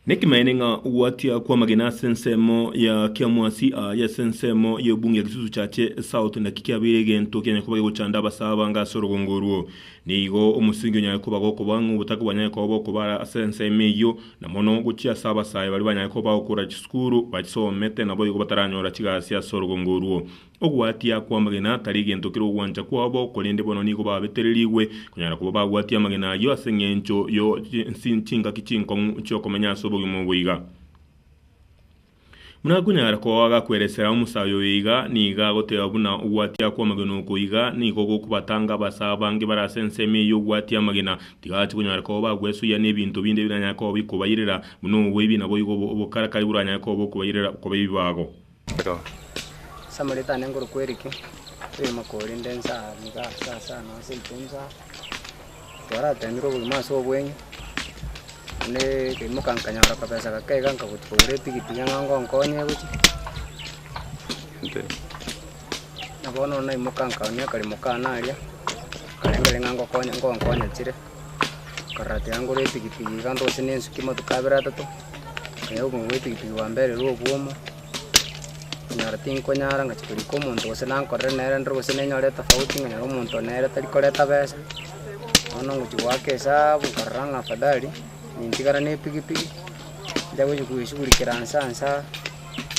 Nekimaene ng'a ogwatia kw'amagena ase ensemo ya kiamwasi aa y'ase ensemo y'obunge ya Kisusu Chache South naki kiabeire egento kianyare koba gegochanda abasaa abange ase orogongo orwo. Nigo omosingi onyare koba gokoba ng'a obotaka bwanyare koba bokoba ase ensemo eyio, na mono gochia ase abasae baria banyare koba bagokora chisukuru, bachisomete naboigo bataranyora chigasi ase orogongo orwo. Ogwatia kw'amagena tari gento kera ogwancha kwabo, korende bono nigo babetererigwe konyara koba bagwatia amagena ayio ase engencho yo chingaki chinkong'u chi'okomenya ase obogima obo iga. Buna akonyara koa agakweresera omosayo oyo iga, nigo agoteba buna ogwatia kw'amagena oko iga nigo gokobatanga abase abange bare ase ensemo eye y'ogwatia amagena. Tigachi konyara koba bagwesoyia n'ebinto binde biranyare koba bikobairera, buna oboibi naboigo obokarakari boranyare koba bokobairera koba ebibago. Samuri tane nguru kweriki, tiri mokori nde nsa niga ase asa na ase iko nsa, twarateemire obogima ase obweng'e, naende nkaimoka nkanyora akabesa gake iga nkagochi kogora etigiti ng'a ngonkonye gochi, na bono naimoka nkaoonia akaremo kane aria, karenge aria ng'a ngokonye ngonkonye chire. Akarara atiga ngore epigipigi iga ndose nensuke amatuko abere atato, nkaira obogima bw'epigipigi bwa mbere ere obwomo, konyara tinkonyara ngachia korika omonto gose nankorere nere ndore gose nenyore etofauti ng'a nere omonto one nere tari koreta besa, bono ngochia goaka esabu nkarora ng'a afadhali nintigara na epigipigi, nja gochia koesugurikera nse ansa.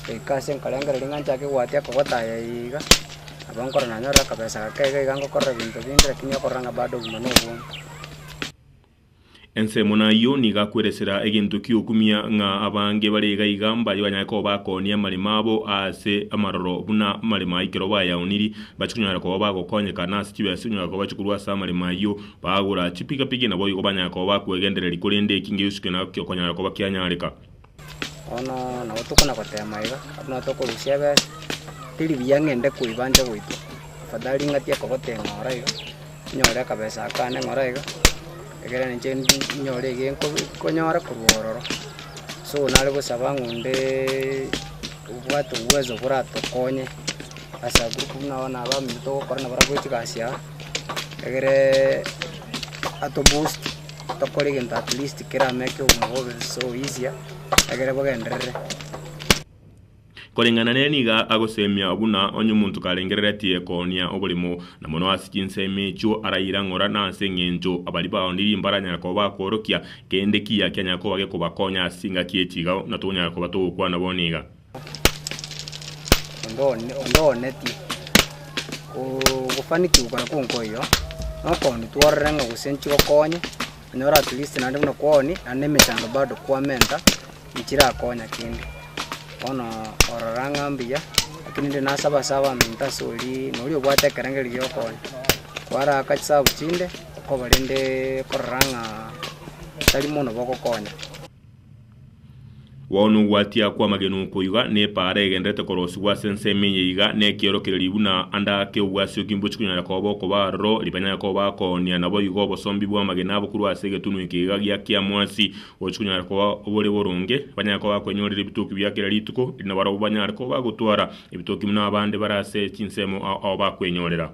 Goika ase nkorengera ring'ana nchake gwatia kogotaya iga, nabo nkorora nanyorire akabesa gake iga iga ngokorera ebinto binde lakini okorora ng'a bado obogima nobonge. Ensemo nayio nigo akweresera egento ki'okumia ng'a abange bare iga iga mbarie banyare koba bakooni amarimo abo ase amaroro buna amarimo a ekero bayaoniri, bache konyara koba bagokonyeka, na ase chibesa onyora koba bache korwa ase amarimo ayio bagora chipikapiki naboigo banyare koba bakwegendereri korende eki ngeosi kende nabo kiokonyara koba kianyareka. Bono nabo tokona gotema iga, buna tokorusia ebesa, teri buya ng'a ende koiba nche goitwa, afadhali ring'ati ekogota eng'ora iga, nyore akabesa aka ande ng'ora iga, egere na inche ndi nyore ege nkobi nkonyora korwa ororo. So nare gosaba ng'a ondeeee obwate obwezo boratokonye ase agwo buna abana abange togokora nabarabwo chigasi aa. Egere atoboost tokore egento at least kere amo ekio omwabo obe so easier egere bogenderere. Koreng'ana nere nigo agoseemia buna onye omonto karengereretie koonia oborimo, na mono ase chinsemo echio araira ng'ora na ase engencho abari bao ndiiri mbaranyare koba bakoorokia. Kende kiya kianyare koba gekobakonya ase chingaki echi iga, na tonyare koba togokwana bono iga. ondooneti. Ogofanikigwa kore konkoiyo nokooni tworere ng'a gose nchigokonye, onyore at least naende buna kwooni naende na emechando bado kwamenta nchirakonya kende. Bono orora ng'a mbuya, rakini rinde nasaba ase abaminto ase oria nori obwate ekerenge rigiya okonya, kwaraaka chisabu chinde okoba rende okorora ng'a tari mono bogokonya. Bono ogwatia kw'amagena oko iga nepaara egenderete korosigwa ase ensemo eye iga nekiorokererio buna ande ake obwasioki mbochi konyara koba okoba aroro ribanyare koba akoonia naboigo obosombi bw'amagena abo korwa ase egetunwa eke iga gia kiamwasi gochi konyara koba obore boronge banyare koba bakwenyorera ebitoki bia kera rituko eri nabarobwo banyare koba bagotwara ebitoki buna abande bare ase chinsemo ao ao bakwenyorera.